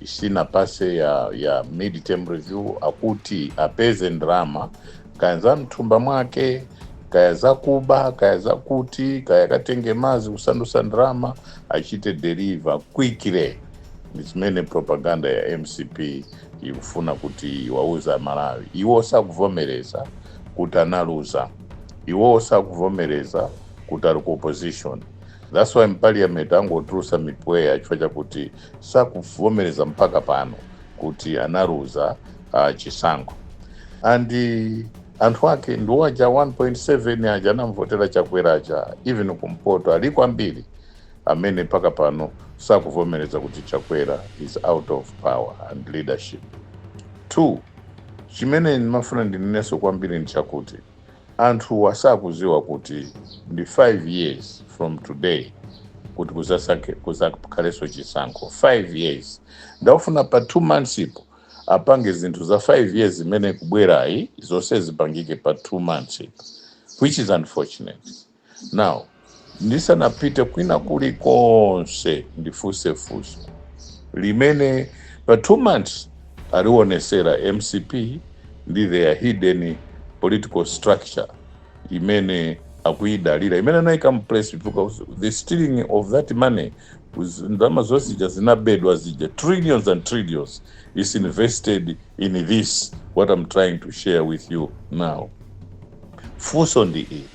Isinapase ya mid term review akuti apeze ndalama kaya za mthumba mwake kaya zakuba kaya zakuti kaya akatenge mazi kusandusa ndalama achite deliver quickly ndi zimene propaganda ya mcp ikufuna kuti iwauze aMalawi iwo sakuvomereza kuti analuza iwo sakuvomereza kuti ali ku opposition that's why mpaliyamenti akungotulusa mipweya chifukwa chakuti sakuvomereza mpaka pano kuti analuza uh, chisankho and anthu ake ndiwo aja 1.7 aja anamvotera chakwera aja even kumpoto aliko ambiri amene mpaka pano sakuvomereza kuti chakwera is out of power and leadership two chimene ndimafuna ndinenenso kwambiri ndichakuti Anthuwa sakuziwa kuti ndi 5 years from today kuti kuzasakhe kuzakhalenso chisankho 5 years nde akufuna pa 2 months po apange zinthu za 5 years zimene ikubwerayi zonse zipangike pa 2 months po which is unfortunate. Now, ndisanapite kwina kuli konse ndifuse fuso limene pa 2 months alionesera mcp ndi their hidden political structure imene akuyidalira imene anayika mu place because the stealing of that money was ndalama zonse zija zinabedwa zija trillions and trillions is invested in this what am trying to share with you now fuso ndi iyi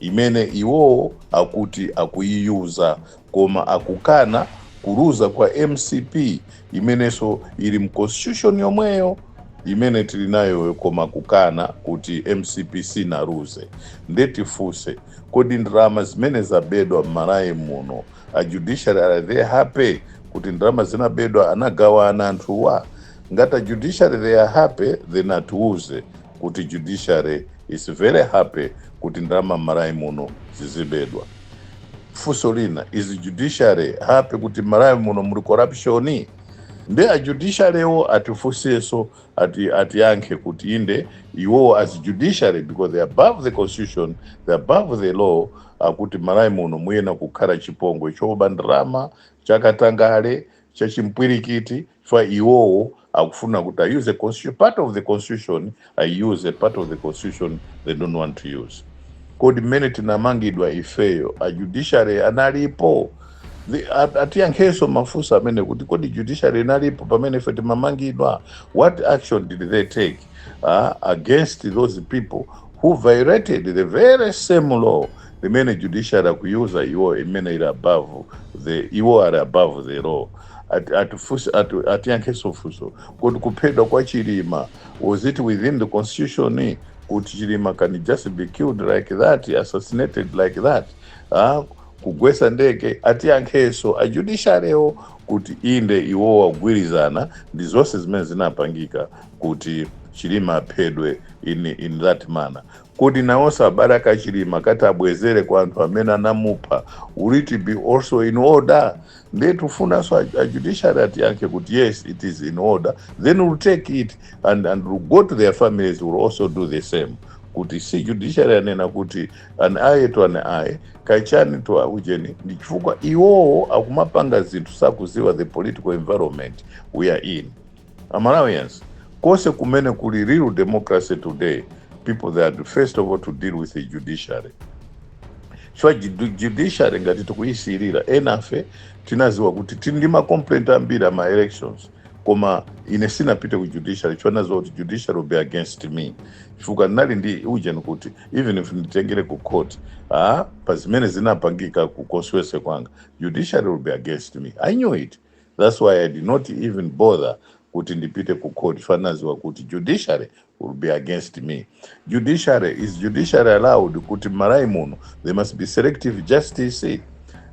imene iwo akuti akuyiyuza koma akukana kuluza kwa mcp imeneso ili mu constitution yomweyo imene tili nayo koma akukana kuti mcp sinaluze nde tifuse kodi ndalama zimene zabedwa mmalawi muno a judiciary are they happy kuti ndalama zinabedwa anagawana anthuwa? Ngati a judiciary they are happy then atiuze kuti judiciary is very happy kuti ndalama mmalawi muno zizibedwa. Funso lina is judiciary happy kuti mmalawi muno muli corruption? Nde a judiciary wo atifunseso ati atiyankhe kuti inde iwowo as judiciary because they are above the constitution, they are above the law akuti mmalawi muno muyenera kukhala chipongwe choba ndalama, chakatangale, chachimpwilikiti. chifukwa iwowo akufuna kuti a use constitution part of the constitution ai-use a part of the constitution they don't want to use kodi mmene tinamangidwa ifeyo a judiciary analipo The- at- atiyankhenso mafunso amenewa kuti kodi judiciary inalipo pamene ife timamangidwa what action did they take uh, against those people who violated the very same law limene judiciary akuyuza iwo imene ili above the iwo ali above the law Ati, atifunse, atu, atiyankheso funso kodi kuphedwa kwa Chilima was it within the constitution kuti Chilima can just be killed like that assassinated like that ha kugwesa ndege atiyankheso a judiciary wo kuti inde iwowo akugwirizana ndi zonse zimene zinapangika kuti Chilima aphedwe in, in that manner Kodi nawonso abale a ka Chilima akati abwezere kwa anthu amene anamupha will it be also in order? Ndiye tikufunanso a, a judiciary atiyankhe kuti yes it is in order then we'll take it and, and we'll go to their families we'll also do the same kuti si judiciary anena kuti an eye to an eye kaya chani to ujeni ndi chifukwa iwowo akumapanga zinthu sakuziwa the political environment we are in. A Malawians, konse kumene kuli real democracy today, people they had first of all to deal with the judiciary. Chifukwa judu- judiciary ngati tikuyisiyirira enafe tinaziwa kuti tili ndi ma complaint ambiri ama elections koma ine sinapite ku judiciary chifukwa naziwa kuti judiciary will be against me chifukwa ndinali ndi ujeni kuti even if nditengere ku court ah, pa zimene zinapangika ku constituency kwanga judiciary will be against me i knew it That's why I did not even bother kuti ndipite ku court chifukwa naziwa kuti judiciary will be against me. Judiciary is judiciary allowed kuti m'Malawi muno there must be selective justice.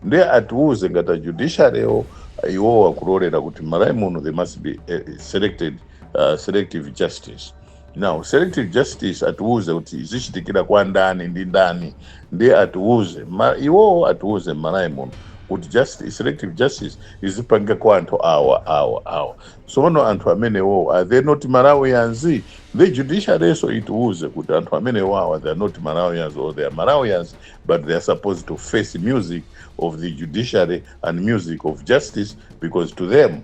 Ndiye atiuze ngati a judiciary wo iwo akulolera kuti m'Malawi muno there must be eh, selected uh, selective justice. Now selective justice atiuze kuti izichitikira kwa ndani ndi ndani ndiye atiuze ma, iwowo atiuze m'Malawi muno kuti justice, selective justice izipangika kwa anthu awa awa awa sono anthu amenewowo are they not Malawians ndiye judiciaryso itiuze kuti anthu amenewawa they are not Malawians or they are Malawians but they are supposed to face music of the judiciary and music of justice because to them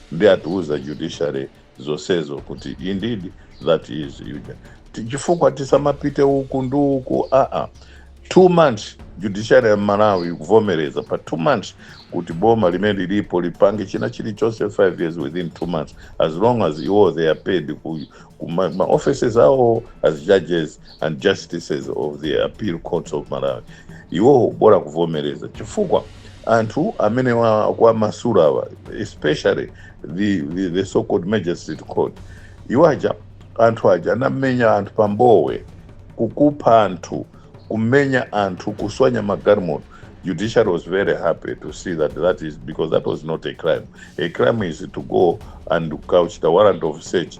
Ndiye atiuze a judiciary zonsezo kuti indeed that is ujeni. Ti- Chifukwa tisamapite uku ndi uku aa. Two months judiciary ya Malawi ikuvomereza pa two months kuti boma limene lilipo lipange china chilichonse five years within two months as long as iwo they are paid ku, ku ma, ma offices awo as judges and justices of the appeal courts of Malawi iwowo bola kuvomereza chifukwa anthu amene wa- akuwamasula awa especially the, the, the so called magistrate court iwo aja anthu aja anamenya anthu pa Mbowe kukupha anthu kumenya anthu kuswanya magalimoto judiciary was very happy to see that that is because that was not a crime a crime is to go and quash the warrant of search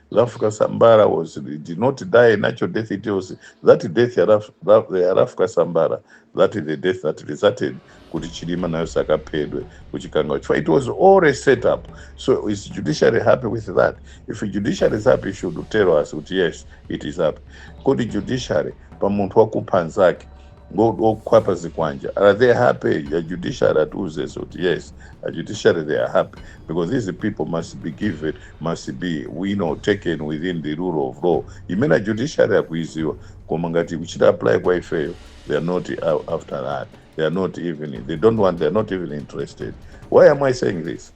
Rafuka Sambara was did not die natural death. It was that death ya Raf- Ra- ya Rafuka Sambara that is the death that resulted kuti Chilima nayo sakaphedwe kuchikangawa. Chifukwa It was all a set up. So is judiciary happy with that? If judiciary is happy, it should tell us kuti yes, it is happy. Kodi judiciary pa munthu wakupha nzake Ngotu okhwapa zikwanje are they happy? Ya judiciary atiuze zoti yes a judiciary they are happy because these people must be given must be you know taken within the rule of law imene a judiciary akuiziwa koma ngati ikuchita apply kwa ifeyo they are not a- after that they are not even they don't want they are not even interested why am i saying this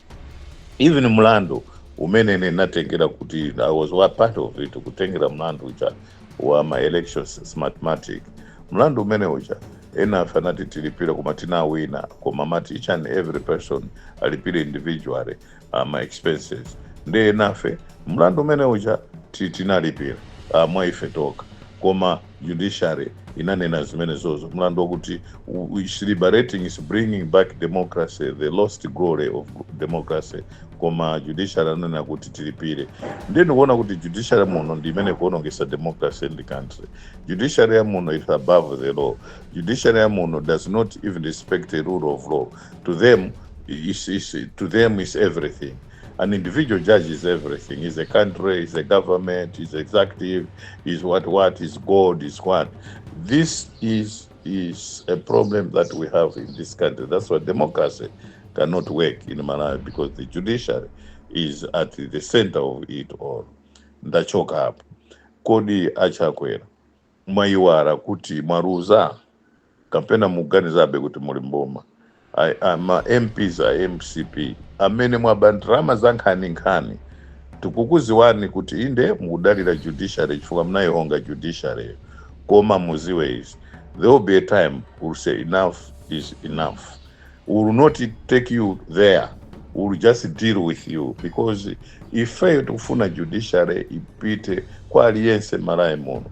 even mlandu umene ine natengera kuti i was wa part of it kutengera mlandu uja wa ma elections, smartmatic, mlandu umene uja enafe anati tilipire koma tinawina koma amati each and every person alipire individually uh, ma expenses nde enafe mlandu umene uja ti- tinalipira uh, mwa ife tokha koma judiciary inanena zimenezozo mlandu wakuti u- u- is liberating is bringing back democracy the lost glory of democracy koma judiciary ananena kuti tilipire ndiye ndikuona kuti judiciary muno ndi imene kuonongesa democracy in the country judiciary ya muno is above the law judiciary ya muno does not even respect the rule of law to them is, is, to them is everything an individual judge is everything is a country is a government is executive is what what is god is what this is is a problem that we have in this country. That's why democracy cannot work in Malawi because the judiciary is at the center of it all. Ndachoka apo. Kodi achakwera mwaiwara kuti mwaruza kapena muganizabe kuti muli mboma ma MPs a mcp amene mwaba ndalama za nkhani nkhani tikukuziwani kuti inde mukudalira judiciary chifukwa mnayihonga judiciary yo koma muziwe izi there will be a time we'll say enough is enough we will not take you there we will just deal with you because ifeyo tikufuna judiciary ipite kwa aliyense m'malawi muno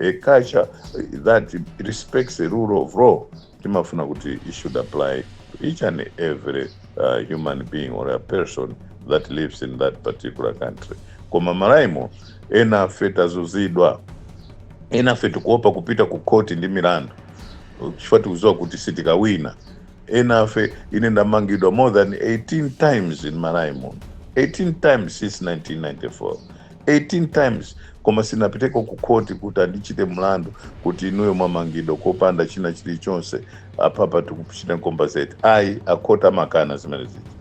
a culture that respects the rule of law timafuna kuti it should apply to each and every uh, human being or a person that lives in that particular country koma Malawi muno ena afe tazuzidwa ena afe tikuopa kupita ku khoti ndi milandu chifukwa tikuziwa kuti sitikawina ena afe ine ndamangidwa more than 18 times in Malawi muno 18 times since 1994 18 times koma sinapiteko ku court kuti andichite mlandu kuti inuyo mwamangidwa kopanda china chilichonse apapa tikuchita compensate ayi a court amakana zimene zija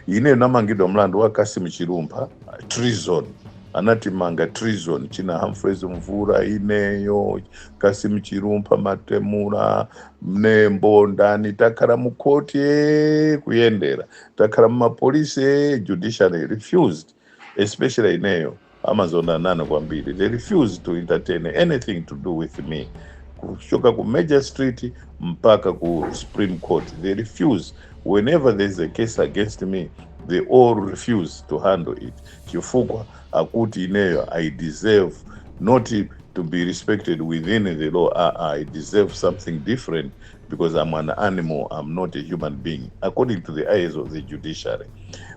ineyo namangidwa mlandu wa Kassim Chilumpha treason anatimanga treason china Humphreys Mvula ineyo Kassim Chilumpha Matemula Mnembo ndani takhala mu court ee kuyendera takhala mumapolisi ee judiciary refused especially ineyo amazonda nane kwambiri they refuse to entertain anything to do with me kuchoka ku major street mpaka ku supreme court they refuse whenever there is a case against me they all refuse to handle it chifukwa akuti ineyo i deserve not to be respected within the law ah, ah, i deserve something different because am an animal am not a human being according to the eyes of the judiciary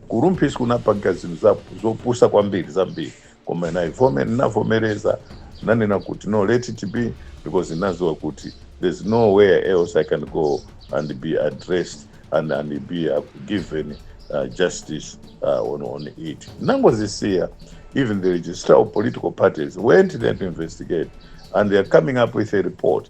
kurumphisi kunapanga zinthu za- zopusa kwambiri zambiri koma naivome ndinavomereza nanena kuti no let it be because ndinaziwa kuti there's nowhere else i can go and be addressed and, and be uh, given uh, justice uh, on, on it nangozisiya even the registrar of political parties went there to investigate and they are coming up with a report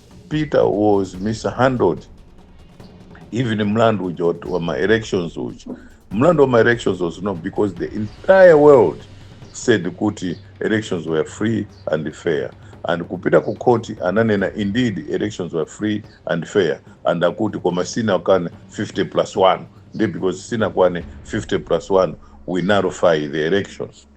Peter was mishandled even mlandu uja wa- wa ma elections uja mlandu wa ma elections was not because the entire world said kuti elections were free and fair and kupita ku court ananena indeed elections were free and fair and akuti koma sinakwane 50 plus 1 nde because sinakwane 50 plus 1 we nullify the elections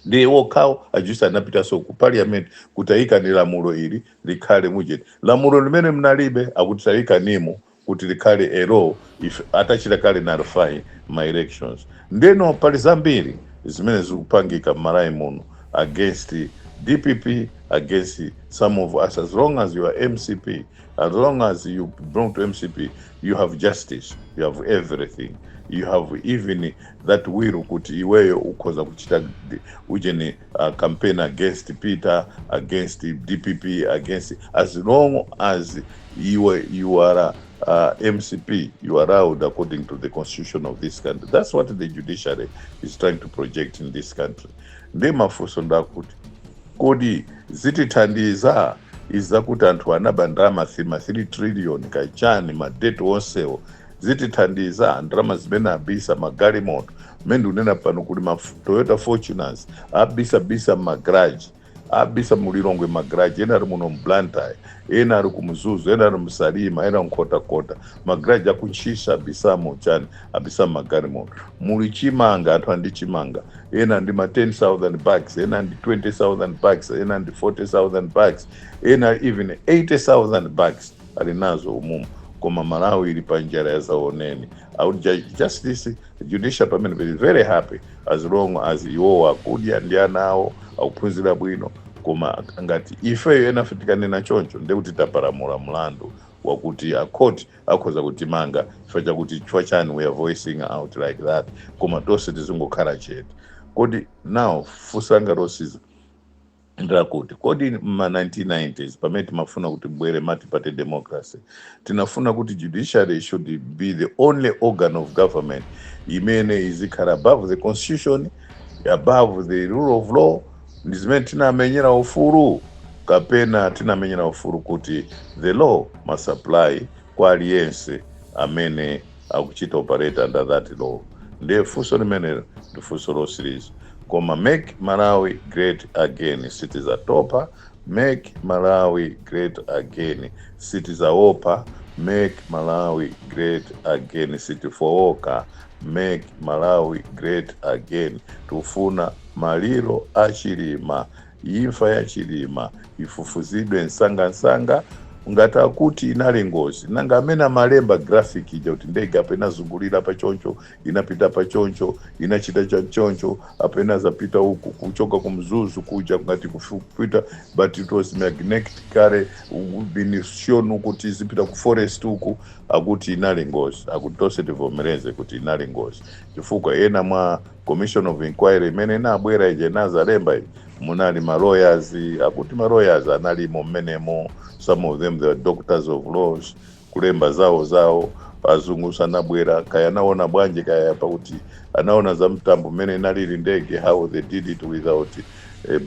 ndiye wokhawo a judge anapitaso ku parliament kuti ayikeni lamulo ili likhale mujeni lamulo limene mnalibe akuti tayikanimo kuti likhale a law if atachita kale nullify ma elections ndeno pali zambiri zimene zikupangika mmalawi muno against dpp against some of us as long as you are mcp as long as you belong to mcp you have justice you have everything you have even that will kuti iweyo ukhoza kuchita ujeni campaign against Peter, against dpp, against as long as iwe you are mcp you are allowed according to the constitution of this country that's what the judiciary is trying to project in this country ndiye mafunso ndi akuti kodi zitithandiza izi zakuti anthu anaba ndalama 3 trillion kachani madeti onsewo zitithandiza ndalama zimene abisa magalimoto mmene ndikunena pano kuli ma toyota fortuners abisabisa mmagaraji abisa mulilongwe magaraji ena ali muno mblantyre ena ali kumzuzu ena ali msalima ena ku Nkhotakota magaraji aku Ntchisi abisamo chani abisa magalimoto muli chimanga anthu ali ndi chimanga ena ali ndi ma 10000 bags ena ali ndi 20000 bags ena ali ndi 40000 bags ena even 80000 bags ali nazo umumu koma malawi ili pa njala ya zaoneni a chief justice judiciary pamene be very happy as long as iwowo akudya ndi ana awo akuphunzira bwino koma ngati ifeyo enafe tikanena choncho ndiye kuti tapalamula mlandu wakuti akhoti akhoza kutimanga chifukwa chakuti chifukwa chani we are voicing out like that koma tonse tizingokhala chete kodi now funsanga lotsiriza Ndilakuti, kodi m'ma 1990s pamene timafuna kuti kubwere multiparty democracy, tinafuna kuti judiciary should be the only organ of government imene izikhala above the constitution, above the rule of law, ndi zimene tinamenyera ufulu? Kapena tinamenyera ufulu kuti the law must apply kwa aliyense amene. akuchita operate under that law ndiye funso limenelo ndi funso lotsiriza koma make malawi great again sitizatopa make malawi great again sitizaopa make malawi great again sitifooka make malawi great again tikufuna maliro a Chilima Imfa ya Chilima ifufuzidwe msangamsanga ngati akuti inali ngozi nanga amene amalemba graphic ija kuti ndege apa inazungulira apa choncho inapita apa choncho inachita cha choncho apa inazapita uku kuchoka ku mzuzu kuja ngati kupita but it was magnetically been shown kuti izipita ku forest uku akuti inali ngozi akuti tonse tivomereze kuti inali ngozi chifukwa ena mwa Commission of inquiry imene inabwera ija inazalemba ija munali ma lawyers akuti ma lawyers analimo mmenemo some of them they were doctors of laws kulemba zawo zawo azungu sanabwera kaya anaona bwanji kaya pakuti anaona za mtambo mmene inalili ndege how they did it without eh, eh,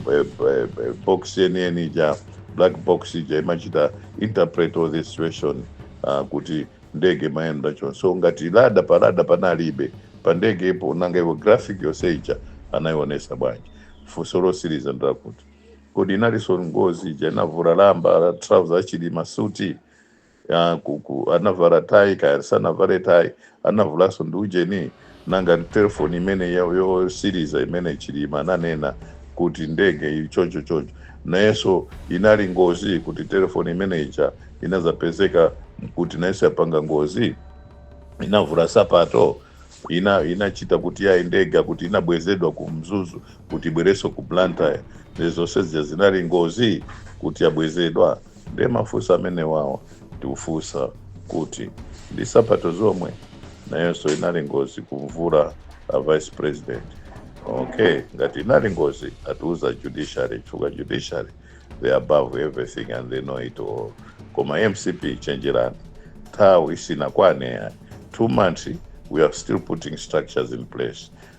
eh, eh, box yeniyeni ija black box ija imene imachita interpret all this situation uh, kuti ndege imayenda chonchi so ngati radar pa radar panalibe pa ndegepo nanga iwo graphic yonse ija anayionesa bwanji funso lotsiriza ndilakuti kodi inalinso ngozi ija inavula lamba la trouser achilima suti anavala tai kaya sanavale tai anavulanso ndi ujeni Nanga telephone imene yotsiriza imene chilima ananena kut ndege ili choncho choncho nayeso inali ngozi kut telephone imene ija inazapezeka kut nayeso yapanga ngozi? inavula sapato? inachita kut yayi ndege kut inabwezedwa ku mzuzu kut ibwereso ku blantyre nde zose zija zinali ngozi kut yabwezedwa? ndiye mafunso amenewawo tikufunsa kuti ndi sapato zomwe nayonso inali ngozi kumvula a vice president okay ngati inali ngozi atiuza judiciary chifukwa judiciary they are above everything and they know it all koma mcp chenjerani nthawi sinakwane ya two months we are still putting structures in place